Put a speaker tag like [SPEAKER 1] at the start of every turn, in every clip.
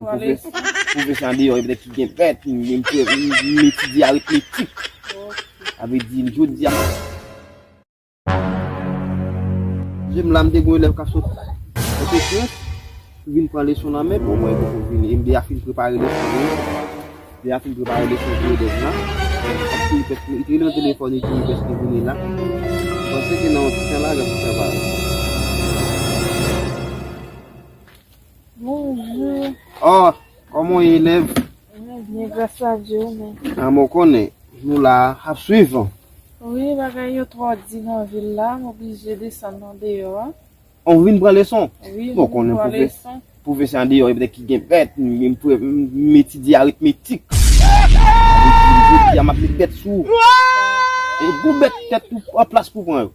[SPEAKER 1] Pwofesè andeyò e pètèt ki gen pèt, menm ke m etidye aritmetik. Sa vle di m jodi a m. Je m la m te gen yon elèv k ap sot Pòtoprens ki vin pran leson nan men m, bon mwen te fèk vini e m deja fin prepare leson pou yo. M deja fin prepare leson pou elèv la. Li te rele nan telefòn li di m dèske vini la. M panse ke nan yon ti tan la lè pou fè bagay.
[SPEAKER 2] Bonjou. Oh,
[SPEAKER 1] kòman ou ye elèv? Mwen byen, gras
[SPEAKER 2] a Dye, ou menm? Ah, mwen konnen.
[SPEAKER 1] Nou la a, ap swiv an. Wi, bagay
[SPEAKER 2] yo twò di nan vil la, m oblije desann andeyò a. Oh, ou vin pran
[SPEAKER 1] leson? Wi, m vin pran leson.
[SPEAKER 2] Pwofesè andeyò yo petèt
[SPEAKER 1] ki gen bèt, m etidye aritmetik. Sa vle di, jodi a m ap met bèt sou ou. Gwo bèt tèt ou an plas pou w pran yo.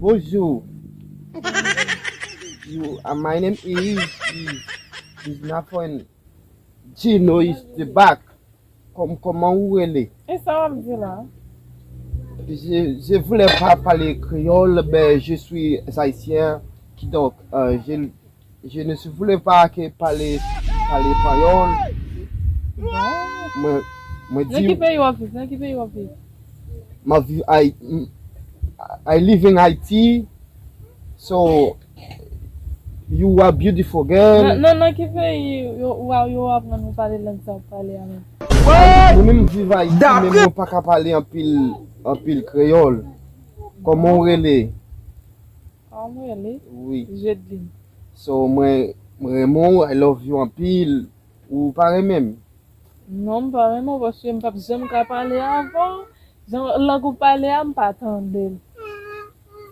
[SPEAKER 1] Bonjour you are my name is is my friend Gino is the back Kom koman ou rele? E sa wap di la?
[SPEAKER 2] Je
[SPEAKER 1] je voulais pas parler créole mais je suis haïtien kidonk je Je ne si voulais pas ke pale pale panyòl
[SPEAKER 2] mwen mwen di map viv ayiti
[SPEAKER 1] I live in Haiti so you are beautiful
[SPEAKER 2] girl mwen menm viv
[SPEAKER 1] ayiti men mwen paka pale anpil anpil kreyòl kòman ou rele. Sa
[SPEAKER 2] ou mwen li? Wi. Jedeline. So mwen
[SPEAKER 1] renmen w I love you anpil ou pa renmen m? Non m pa
[SPEAKER 2] renmen w paske m pap janm ka pale avè w jan lang ou pale a m pa tande l.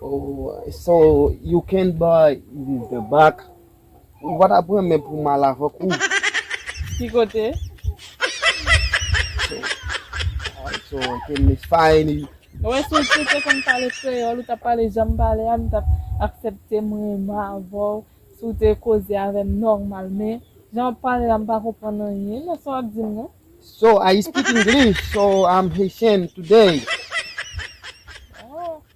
[SPEAKER 1] Oh so you can buy the back. Ou pa ta pran men pou mal avèk ou. Ki
[SPEAKER 2] kote? So
[SPEAKER 1] I can miss fine. Ou wè si ou
[SPEAKER 2] te konn pale kreyòl ou tap pale janm pale a m tap aksepte m renmen avèw si w te koze avèm nòmal men jan wap pale la m pa konprann anyen nan sa wap di m nan. So I speak
[SPEAKER 1] English so I'm Haitian today.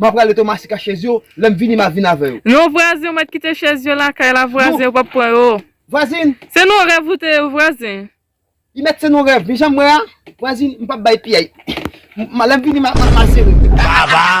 [SPEAKER 1] M'a prale Thomasy ka chez yo, lèm vini m'a vin avè yo. Non vwazen ou mèt kite
[SPEAKER 2] chez yo lakay la vwazen yo pap pran yo. Vwazin! Se
[SPEAKER 1] non rèv ou te
[SPEAKER 2] ye vwazin. Li mèt se
[SPEAKER 1] non rèv mi janm wè a, vwazin m'pap bay piyay lèm vini m'a sere. Vava!